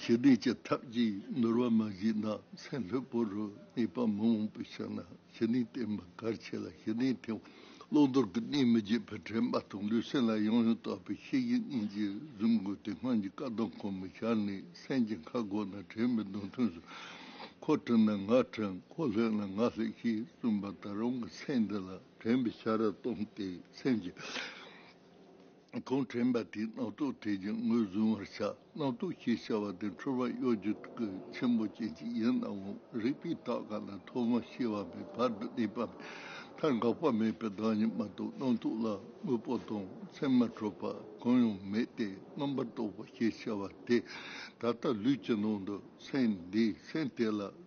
ཞི་བདེ་ཀྱི་ཐབས་ཀྱིས་འདོར་བ་མ་གཞི་ནགས་ཚལ་ལྷོད་པོ་རུ་གནས་པ་མི་འོང་པའི་ཕྱིར་ན་ཞི་གནས་བསྟེན་པ་གལ་ཆེ་ལ་ཞི་གནས་ཐེག་པ་བློ་དོར་གྱི་གནས་མི་བརྗེད་པའི་དྲན་པ་དང་ལུས་སེམས་ལ་ཡང་ཡང་དག་པའི་ཤེས་བཞིན་གཉིས་ཀྱིས་བཟུང་དགོས་ཏེ་སྔོན་གྱི་བཀའ་དང་གོང་མའི་ཞལ་ནས་གསན་ཅིང་ཁ་སྒོ་ན་དྲན་པའི་མདུན་ཐུན་སུ་ཁོ་དྲན་ན་ང་དྲན་ཁོ་ལྷོད་ན་ང་ལྷོད་ཅེས་གསུངས་པ་ལྟར་རང་གི་མཚན་འདི་ལ་དྲན་པའི་ཞལ་རས་སྟོང་སྟེ་སེམས་ཀྱི། གོང་དྲན་པ་དེས་རྣག་ཐོག་ཐལ་གྱི་ངོས་བཟུང་བར་བྱ། རྣག་ཐོག་ཞེས་བྱ་བ་དེ་འཁྲུལ་བ་གཡོ་སྒྱུ་དགུ་ཆེན་པོ་ཅན་གྱི་ཡུལ་སྣང་ངོ། རིག་པའི་རྟགས་ག་ལ་ཐོབ་བམ་ཞེས་བ་པའི་བར་དུ་གནས་པ་མཐར་འགག་པ་མེད་པའི་བདག་ཉིད་མ་གཏོགས་རྣག་ཐོག་ལ་དངོས་པོ་དང་མཚན་མ་འཕྲོད་པ་གང་ཡང་མེད་དེ་རྣམ་པར་རྟོག་པ་ཞེས་བྱ་བ་དེ་ད་ལྟ་ལུས་ཀྱི་ནང་དུ་སེམས་འདིས་སེམས་དེ་ལ་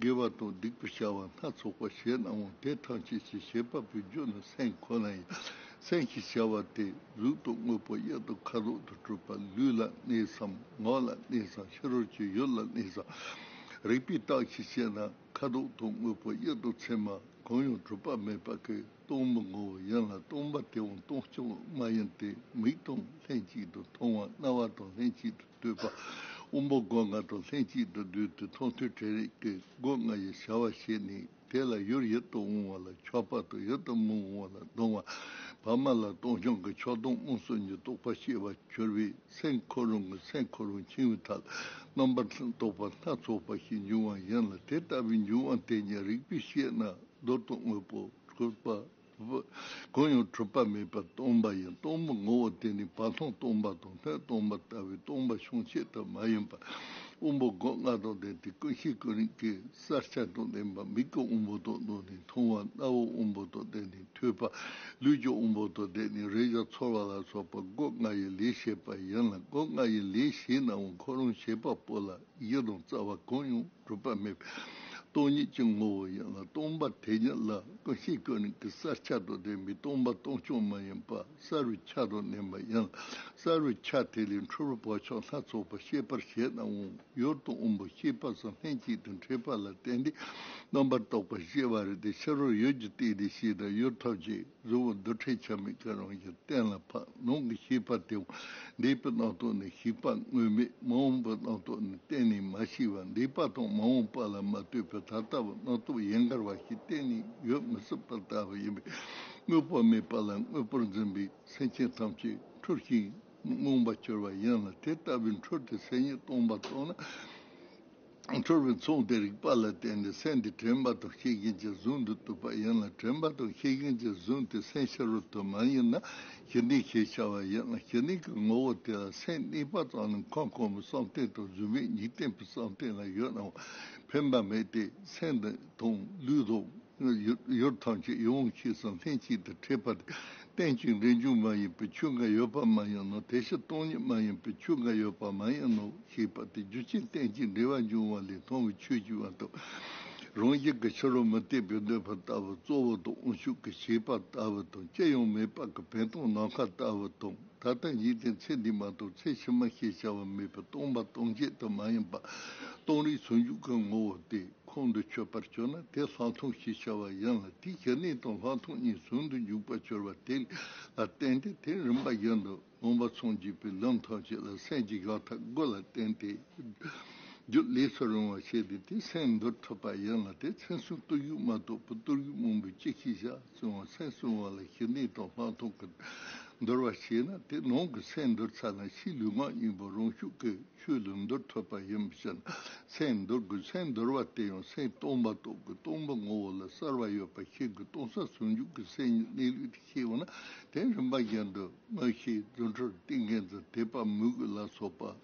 དགེ་བ་དང་སྡིག་པའི་བྱ་བ་སྣ་ཚོགས་པ་བྱས་ནའང་དེ་ཐམས་ཅད་ཀྱི་བྱེད་པ་པོའི་རྒྱུ་ནི་སེམས་ཁོ་ན་ཡིན། སེམས་ཀྱི་བྱ་བ་དེས་གཟུགས་དང་དངོས་པོ་གཡོན་དང་ཁ་དོག་ཏུ་སྤྲུལ་པ་ལུས་ལ་གནས་སམ་ངག་ལ་གནས་སམ་ཕྱི་རོལ་གྱི་ཡུལ་ལ་གནས་སམ། རིག་པའི་རྟགས་ཀྱིས་དཔྱད་ན་ཁ་དོག་དང་དངོས་པོ་གཡོན་དང་མཚན་མ་གང་ཡང་གྲུབ་པ་མེད་པ་ཀའི་སྟོང་མི་ངོ་བོ་ཡིན་ལ་སྟོང་པ་དེའང་སྟོང་ཕྱོགས་མ་ཡིན་ཏེ་མིག་དང་ལྷན་ཅིག་ཏུ་མཐོང་བ་རྣ་བ་དང་ལྷན་ཅིག་ཏུ་བསྟོད་པ། དབོན་པོ་སྒོ་ང་དང་ལྷན་ཅིག་ཏུ་འདུས་ཏེ་མཐོང་ཐོས་བྲལ་རིག་གི་སྒོ་ང་ཡི་བྱ་བ་བྱས་ནས་དེ་ལ་ཡུར་ཡིད་དུ་འོང་བ་ལ་ཕྱོགས་པ་དང་ཡིད་དུ་མི་འོང་བ་ལ་ལྟུང་བ། བར་མ་ལ་སྟོང་སྐྱོང་གི་ཕྱོགས་སྟོང་དབང་གསུམ་གྱི་རྟོགས་པ་ཤེས་པར་གྱུར་པས་སེམས་འཁོར་རང་གི་སེམས་འཁོར་རང་འཆིང་བའི་ཐབས་རྣམ་པར་རྟོག་པ་སྣ་ཚོགས་པ་ཞིག་འབྱུང་བ་ཡིན་ལ་དེ་ལྟ་བུའི་འབྱུང་བ་དེ་ཉིད་རིག་པས་དཔྱད་ན་རྡོལ་དང་དངོས་པོ་གྲུབ་པ། གང་ཡང་གྲུབ་པ་མེད་པར་སྟོང་པ་ཡིན་སྟོང་པའི་ངོ་བོ་དེ་ནི་བ་ཐང་སྟོང་པ་དང་སྣོད་སྟོང་པ་ལྟ་བུའི་སྟོང་པ་ཤོང་བྱེད་དུ་མ་ཡིན་པར་དབང་པོ་སྒོ་ལྔ་དང་ལྡན་ཏེ་ཀུན་གཞི་ཀུན་རིག་གི་གསར་ཆ་དང་ལྡན་པ་མིག་གི་དབང་པོ་དང་ལྡན་ནས་མཐོང་བ་རྣ་བའི་དབང་པོ་དང་ལྡན་ནས་ཐོས་པ་ལུས་ཀྱི་དབང་པོ་དང་ལྡན་ནས་རེག་བྱ་ཚོར་བ་ལ་སོགས་པ་སྒོ་ལྔ་ཡི་ལས་བྱེད་པ་ཡིན་ལ་སྒོ་ལྔ་ཡི་ལས་བྱེད་ནའང་ཁོ་རང་བྱེད་པ་པོ་ལ། ཡིད་ལ་རྩ་བ་གང་ཡང་གྲུབ་པ་མེད་པས་སྟོང་ཉིད་ཀྱི་ངོ་བོ་ཡིན་ལ་སྟོང་པ་དེ་ཉིད་ལ་ཀུན་ཤེས་ཀུན་ནས་ཀྱི་སར་ཆགས་དོགས་དེ་མི་སྟོང་པ་སྟོང་ཕྱོགས་མ་ཡིན་པ་གསར་བའི་ཆ་དང་ལྡན་པ་ཡིན་ལ་གསར་བའི་ཆ་དེ་ལས་འཁྲུལ་བའི་བག་ཆགས་སྣ་ཚོགས་པ་ཤེས་པར་བྱས་ནའང་ཡུལ་དང་དབང་པོ་ཤེས་པ་སོགས་ལྷན་ཅིག་ཏུ་འཕྲད་པ་ལ་བརྟེན་ཏེ་རྣམ་པར་རྟོག་པ་ཤེས་པ་རེད་དེ་ཕྱི་རོལ་ཡུལ་གྱི་སྟེང་དེ་ཤེས་དང་ཡུལ་ཐོབ་ཀྱི། གཟུ་བོ་རྡུལ་ཕྲན་ཆ་མེད་ཀྱི་རང་བཞིན་གཏན་ལ་ཕབ་ནང་གི་ཤེས་པ་དེ་བ་འདས་པའི་སྣང་སྟོང་ནི་ཞིག་པ་དངོས་མེད་མ་འོངས་པའི་སྣང་སྟོང་ནི་གཏན་ནས་མ་ཞིག་བ་འདས་པ་དང་མ་འོངས་པ་ལ་མ་ལྟོས་པའི་ད་ལྟ་བ་སྣང་སྟོང་ཡན་གར་བ་ཞིག་གཏན་ནས་ཡོད་མི་སྲིད་པར་ལྟ་བ་ཡིན་པས་དངོས་པོ་མེད་པ་ལ་དངོས་པོར་འཛིན་པའི་སེམས་ཅན་ཐམས་ཅད་འཁྲུལ་ཞིང་རྨོངས་པར་གྱུར་བ་ཡིན་ལ་དེ་ལྟ་བུའི་འཁྲུལ་ཏེ་སེམས་ཉིད་སྟོང་པར་རྟོགས་ན། འཁྲུལ་བའི་མཚུངས་དེ་རིག་པ་ལ་བརྟེན་ནས་སེམས་དེ་དྲན་པ་དང་ཤེས་མཁན་གྱི་གཟུགས་འདི་ཐུབ་པ་ཡིན་ལ་དྲན་པ་དང་ཤེས་མཁན་གྱི་གཟུགས་དེ་སེམས་ཕྱི་རོལ་དུ་མ་ཡིན་ན་ཞི་འདིང་ཞེས་བྱ་བ་ཡིན་ལ་ཞི་འདིང་གི་ངོ་བོ་དེ་ལ་སེམས་གཉིས་པ་ཙམ་ལས་མཁའ་འཁོར་མོའི་བསམ་གཏན་དང་གཟུགས་མེད་འཇིག་རྟེན་པའི་བསམ་གཏན་ལ་ཡོད་ནའང་ཕན་པ་མེད་དེ་སེམས་དང་ལུས་དང། ཡུལ་ཐམས་ཅད་ཡོངས་ཀྱིས་སུ་ལྷན་གཅིག་ཏུ་འཁྲིལ་པ་དེ་རྟེན་ཅིང་འབྲེལ་འབྱུང་མ་ཡིན་པའི་ཆོས་འགའ་ཡོད་པ་མ་ཡིན་ནོ་དེ་བཞིན་སྟོང་ཉིད་མ་ཡིན་པའི་ཆོས་འགའ་ཡོད་པ་མ་ཡིན་ནོ་ཞེས་པ་དེ་རྒྱུ་ཅན་རྟེན་ཅིང་འབྲེལ་བར་འབྱུང་བ་ལས་མཐོང་བའི་ཆོས་ཀྱི་དབང་དུ་རང་བཞིན་གྱི་ཕྱི་རོལ་མུ་སྟེགས་པའི་འདོད་པ་ལྟ་བུ་གཙོ་བོ་དང་དབང་ཕྱུག་གི་བྱེད་པ་ལྟ་བུ་དང་ཅི་ཡང་མེད་པ་གི་བན་སྟོང་ནམ་མཁའ་ལྟ་བུ་དང་ད་ལྟ་འཇིག་རྟེན་ཚེ་འདི་མ་གཏོགས་ཚེ་ཕྱི་མ་ཞེས་བྱ་བ་མེད་པའི་སྟོང་པ་སྟོང་ཆད་དུ་མ་ཡིན་པ་སྟོང་རིག་ཟུང་འཇུག་གི་ངོ་བོ་སྟེ། ཁོང་དུ་ཆུད་པར་གྱུར་ན་དེ་ལྷག་མཐོང་ཞེས་བྱ་བ་ཡིན་ལ་དེའི་གཞི་གནས་དང་ལྷག་མཐོང་གཉིས་ཟུང་དུ་འཇུག་པར་གྱུར་པ་དེ་ལ་བརྟེན་ཏེ་དེའི་རིམ་པ་བཞིན་དུ་མངོན་པར་མཚང་འཇུག་པའི་ལམ་ཐམས་ཅད་ལ་སེམས་ཀྱི་གཞག་ཐབས་དགུ་ལ་བརྟེན་ཏེ། རྒྱུད་ལས་སུ་རུང་བར་བྱས་ཏེ་དེའི་སེམས་འདོར་ཐུབ་པ་ཡིན་ལ་དེའི་མཚན་གསུམ་བརྟུལ་ཞུགས་མ་གཏོགས་པའི་བརྟུལ་ཞུགས་མང་པོའི་སྤྱི་གཞི་བཞག། བཙོན་བ་ཚད་བཙོན་བ་ལ་ཞི་འདིས་དོགས་ལྷག་མཐོང་གི་འདོར་བར་བྱེད་ན་དེ་ནང་གི་ཚད་འདོར་ཚ་ན་ཕྱིའི་ལུས་ངག་གཉིས་པོ་རང་ཤུགས་ཀྱིས་ཆོས་ལུགས་འདོར་ཐུབ་པ་ཡིན་པའི་ཕྱིར་ན་ཚད་འདོར་དགོས་ཚད་འདོར་བ་དེ་ཡང་ཚད་སྟོང་པ་རྟོགས་ཀྱི་སྟོང་པ་ངོ་བོ་ལ་གསར་བ་ཡོད་པར་ཤེས་ཀྱི་སྟོང་གསར་ཟུང་འཇུག་གི་སེམས་ཉིད་གནས་ལུགས་དེ་ཤེས་ན་དེ་རིམ་པ་བཞིན་དུ་མངོན་ཤེས་རྫུ་འཕྲུལ་ཏིང་ངེ་འཛིན་དེ་པ་མུ་གུ་ལ་སོགས་པ།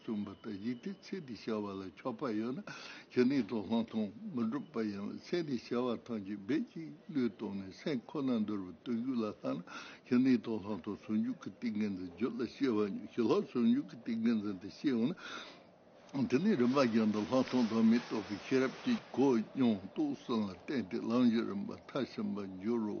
གསུངས་པ་ལྟར་ཡིད་ཀྱི་ཚེ་འདི་བྱ་བ་ལ་ཆོག་པ་ཡོད་ན་ཇི་སྙེད་དུ་ལྷག་མཐོང་མི་འགྲུབ་པ་ཡིན་ལ་ཚེ་འདི་བྱ་བ་ཐམས་ཅད་རྦད་ཅིག་བློས་གཏོང་ནས་སེམས་ཁོ་ན་འདོར་བའི་བརྟུལ་ཞུགས་ལ་ལྷག་ན་ཇི་སྙེད་དུ་ལྷག་མཐོང་ཟུང་འཇུག་གི་ཏིང་ངེ་འཛིན་རྒྱུད་ལ་སྐྱེ་བ་ཉིད་ཞི་ལྷག་ཟུང་འཇུག་གི་ཏིང་ངེ་འཛིན་དེ་ཤེས་ཡོང་ན། དེ་ནས་རིམ་པ་བཞིན་དུ་ལྷག་མཐོང་དང་མི་རྟོག་པའི་ཤེས་རབ་ཀྱིས་གོ་མྱོང་རྟོགས་ཟིན་ལ་བརྟེན་ཏེ་ལམ་བཞི་རིམ་པར་མཐར་ཕྱིན་པར་འགྱུར་རོ།